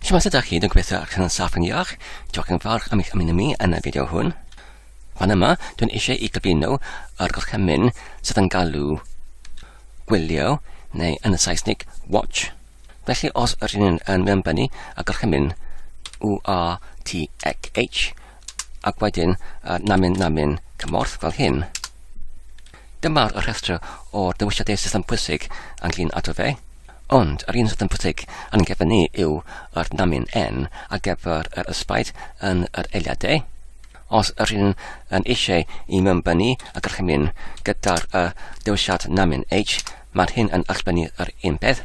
Shwmae, sut ydych chi? Dwi'n gobeithio eich yn saff yn iach. Diolch yn fawr am eich ymuno mi yn y fideo hwn. Fan yma, dwi'n eisiau i gyflwyno yr gorchymyn sydd yn galw gwylio, neu yn y Saesnig, watch. Felly, os yr un yn mewnbynnu y gorchymyn URTXH, ac wedyn uh, namin namin cymorth fel hyn, Dyma'r rhestr o dewisiadau system pwysig ynglŷn â Dove, ond yr un system pwysig yn gefn ni yw yr namin N ar gyfer yr ysbaid yn yr eiliadau. Os yr un yn eisiau i mewn bynu y gorchymyn gyda'r y dewisiad namin H, Mae'r hyn yn allbynnu ar un peth.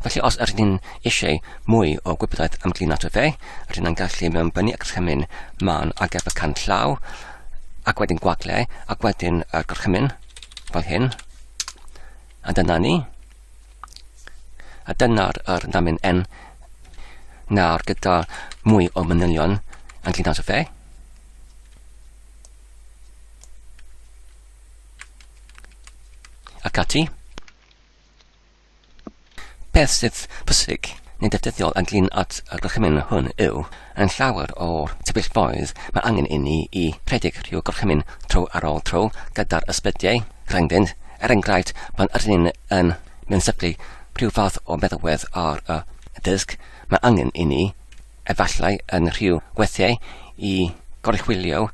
Felly os ydyn ni'n eisiau mwy o gwybodaeth am glino tyfe, rydyn ni'n gallu mewnbynnu y gorchymyn man ar gyfer can llaw, ac wedyn gwagle, ac wedyn y gorchymyn, fel hyn. A dyna ni. A dyna'r er namin N nawr gyda mwy o manylion yn llun o fe. Ac ati. Beth sydd pwysig neu defnyddiol ynglyn at y gorchymyn hwn yw, yn llawer o'r sefyllfaoedd mae angen inni i rhedeg rhyw gorchymyn tro ar ôl tro gyda'r ysbrydiau rhyngddynt, er enghraifft pan ydyn ni yn mewnsyplu rhyw fath o feddalwedd ar y dysg, mae angen inni, efallai yn rhyw weithiau, i goruchwylio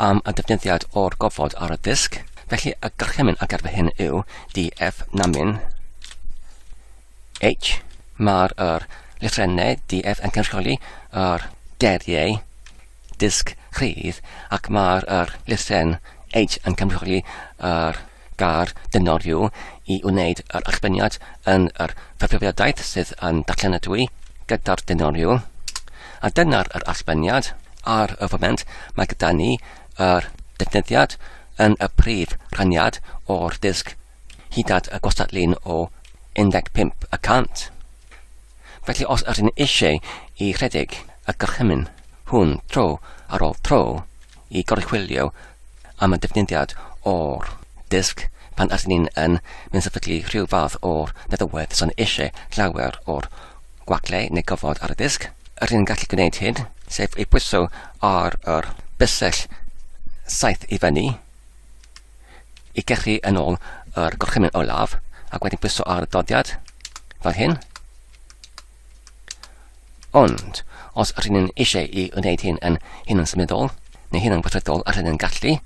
am y defnyddiad o'r gofod ar y disg, felly y gorchymyn ar gyfer hyn yw DF namin H. Mae'r er, lythrennau DF yn cynrychioli yr er, deriau disg rhydd ac mae'r er, lythren H yn cynrychioli yr er, Gair dynol yw i wneud yr allbeniad yn yr cyfrifiadaeth sydd yn darllenadwy gyda'r dynol yw. A dyna'r yr allbeniad. Ar y foment, mae gyda ni yr defnyddiad yn y prif rhaniad o'r disg hyd at y gwastadlun o 15 y cant. Felly os ydyn eisiau i rhedeg y gorchymyn hwn tro ar ôl tro, i goruchwylio am y defnyddiad o'r disg pan ydyn ni'n yn mynd sefydlu rhyw fath o feddywedd sy'n eisiau llawer o'r gwaglau neu gofod ar y disg. Yr hyn gallu gwneud hyn, sef ei pwyso ar yr bysell saith i fyny i gechu yn ôl yr gorchymyn olaf ac wedyn pwyso ar y doddiad fel hyn Ond, os rŷn ni'n eisiau i wneud hyn yn hunansymuddol, neu hunanweithredol a rŷn ni'n gallu,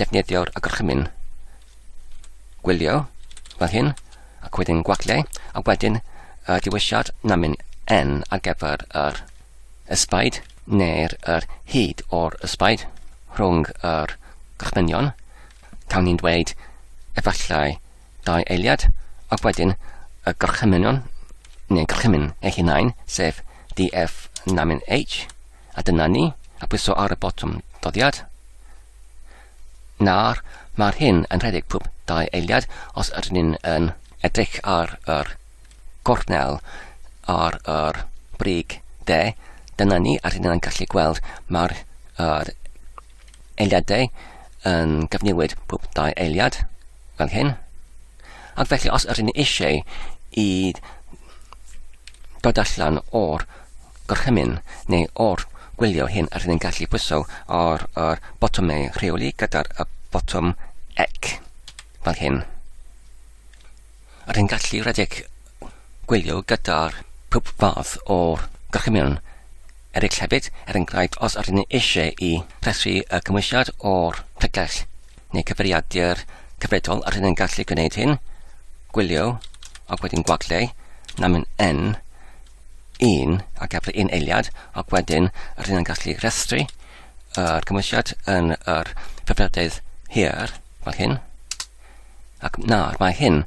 defnyddio'r agorchymyn gwylio fel hyn, ac wedyn gwagliau, a wedyn y diwesiad namin n ar gyfer yr ysbaid neu'r yr hyd o'r ysbaid rhwng yr gorchmynion, cawn ni'n dweud efallai Dau eiliad, ac wedyn y gorchymynion, neu gorchymyn eu hunain, sef DF namin H, a dyna ni, a pwyso ar y botwm doddiad. Na'r, mae'r hyn yn rhedeg pwb dau eiliad os ydyn ni'n yn edrych ar yr gornel ar yr brig de, dyna ni, a rydyn ni'n gallu gweld mae'r er, eiliadau yn cyfnewid pob dau eiliad, fel hyn. Ac felly, os ydyn ni eisiau i dod allan o'r gorchymyn neu o'r gwylio hyn, ydyn ni'n gallu pwyso ar yr botymau rheoli gyda'r botwm ec, fel hyn. Yr hyn gallu rhedeg gwylio gyda'r pob fath o gorchymyn eraill hefyd, er enghraifft os ydyn ni eisiau i rhestru y cymwysiad o'r tegell neu cyfeiriadur cyfredol ydyn ni'n gallu gwneud hyn, gwylio ac wedyn gwagle, namin n, un ac efo un eiliad ac wedyn ydyn ni'n gallu rhestru yr cymwysiad yn yr hyfrydedd hir fel hyn. Ac nawr mae hyn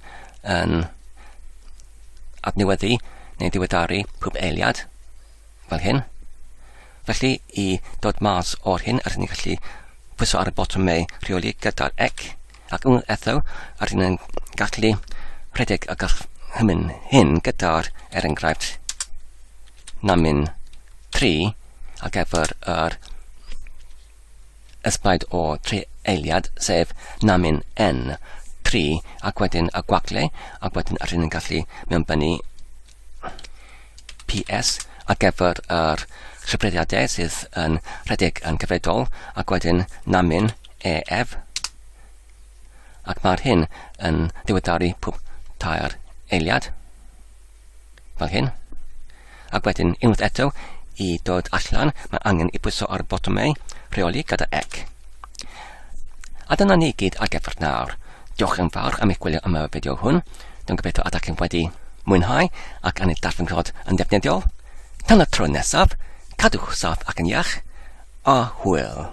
yn adnewyddu neu diweddaru pob eiliad, fel hyn. Felly, i dod mas o'r hyn, rydyn ni'n gallu pwyso ar y botwm meu rheoli gyda'r ec, ac unwaith eto, rydyn ni'n gallu rhedeg y gall hymyn hyn gyda'r, er enghraifft, namin 3 ac efo'r er, Ysbryd o tri eiliad, sef Namin N, tri, ac wedyn y gwagle, ac wedyn yr hyn yn gallu mewnbynnu PS ar gyfer yr rhybrediadau sydd yn rhedeg yn gyfredol, ac wedyn Namin EF, ac mae'r hyn yn diweddaru pob tair eiliad. fel hyn. Ac wedyn unwaith eto, i dod allan, mae angen i bwyso ar botwmau rheoli gyda ec. A dyna ni gyd ar gyfer nawr. Diolch yn fawr am eich gwylio am y fideo hwn. Dwi'n gobeithio ydych chi'n wedi mwynhau ac yn ei darllenrod yn ddefnyddiol. Tan y tro nesaf, cadwch saff ac yn iach, a hwyl!